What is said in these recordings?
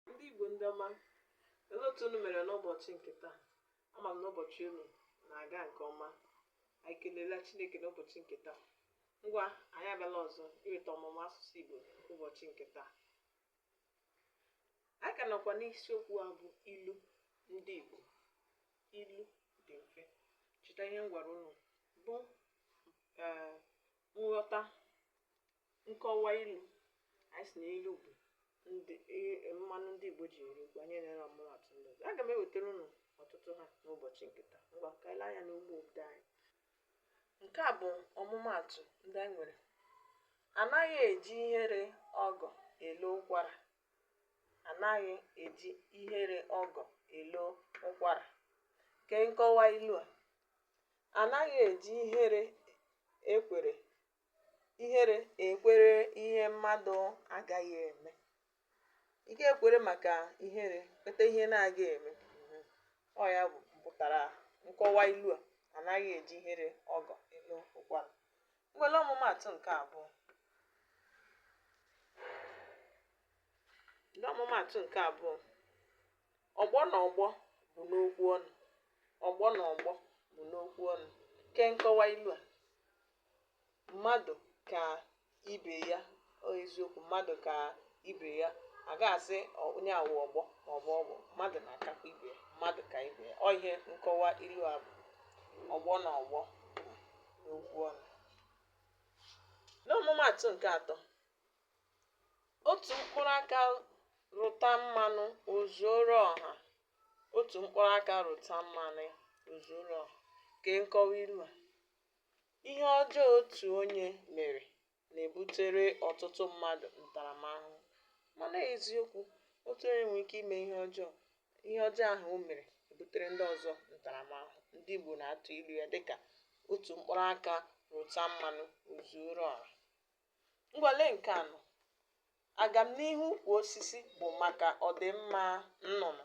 Ndị Igbo ndị ọma, olee otu unu mere n'ụbọchị nke taa? Ama m na ụbọchị unu na-aga nke ọma. Anyị kelela Chineke n'ụbọchị nke taa. Ngwa, anyị abịala ọzọ iweta ọmụmụ asụsụ Igbo ụbọchị nke taa. Anyị ka nọkwa n'isiokwu a bụ ilu ndị Igbo. Ilu dị mfe. Cheta ihe m gwara unu bụ ee, nghọta nkọwa ilu anyị sị na ilu bụ ndị i- mmanụ ndị igbo ji eri okwu anyị enyere ọmụmatụ ndị ọzọ aga m ewetara unu ọtụtụ ha n'ụbọchị nke taa ngwa ka anyị lee anya n'ugbo obodo anyị nke a bụ ọmụmatụ ndị anyị nwere anaghị eji ihere ọgọ elo ụkwara anaghị eji ihere ọgọ elo ụkwara kee nkọwa ilu a anaghị eji ihere ekwere ihere ekwere ihe mmadụ agaghị eme ị ga-ekwere maka ihere kweta ihe na-aga eme mhm. ọ ya pụtara nkọwa ilu a anaghị eji ihere ọgọ elo ụkwara ngwa lee ọmụmaatụ nke abụọ lee ọmụmaatụ nke abụọ ọgbọ na ọgbọ bụ n'okwu ọnụ ọgbọ na ọgbọ bụ n'okwu ọnụ kee nkọwa ilu a mmadụ ka ibe ya ọ eziokwu mmadụ ka ibe ya a ga-asị ọ- onye a wụ ọgbọ ma ọ bụ ọgbọ mmadụ na-akakwa ibe ya mmadụ ka ibe ya ọ ihe nkọwa ilu a bụ ọgbọ na ọgbọ n'okwu ọnụ n'ọmụmaatụ nke atọ otu mkpụrụ aka rụta mmanụ o zuoro ọha otu mkpụrụ aka rụta mmanụ o zuoro ọha kee nkọwa ilu a Ihe ọjọọ otu onye mere na-ebutere ọtụtụ mmadụ ntaramahụhụ. Ma n'eziokwu, otu onye nwere ike ime ihe ọjọọ, ihe ọjọọ ahụ o mere ebutere ndị ọzọ ntaramahụhụ. Ndị Igbo na-atụ ilu ya dịka otu mkpụrụ aka rụta mmanụ o zuoro ọra. Ngwa lee nke anọ. Agamnihu ukwu osisi bụ maka ọdịmma nnụnụ.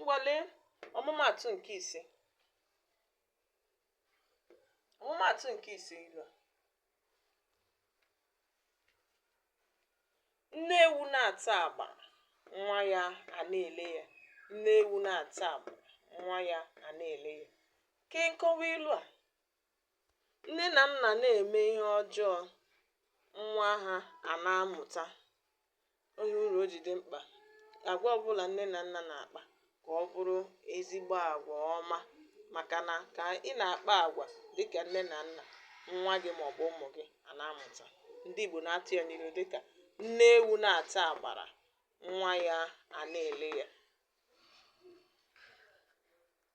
ngwa lee ọmụmaatụ nke ise ọmụmaatụ nke ise ilu a nne ewu na-ata agba nwa ya ana-ele ya nne ewu na-ata agba nwa ya ana-ele ya kee nkọwa ilu a Nne na nna na-eme ihe ọjọọ, nwa ha a na-amụta. O nwere uru o ji dị mkpa agwa ọ bụla nne na nna na-akpa ka ọ bụrụ ezigbo agwa ọma maka na ka ị na-akpa agwa dị ka nne na nna, nwa gị ma ọ bụ ụmụ gị a na-amụta. Ndị Igbo na-atụ ya n'ilu dị ka nne ewu na-ata agbara, nwa ya a na-ele ya.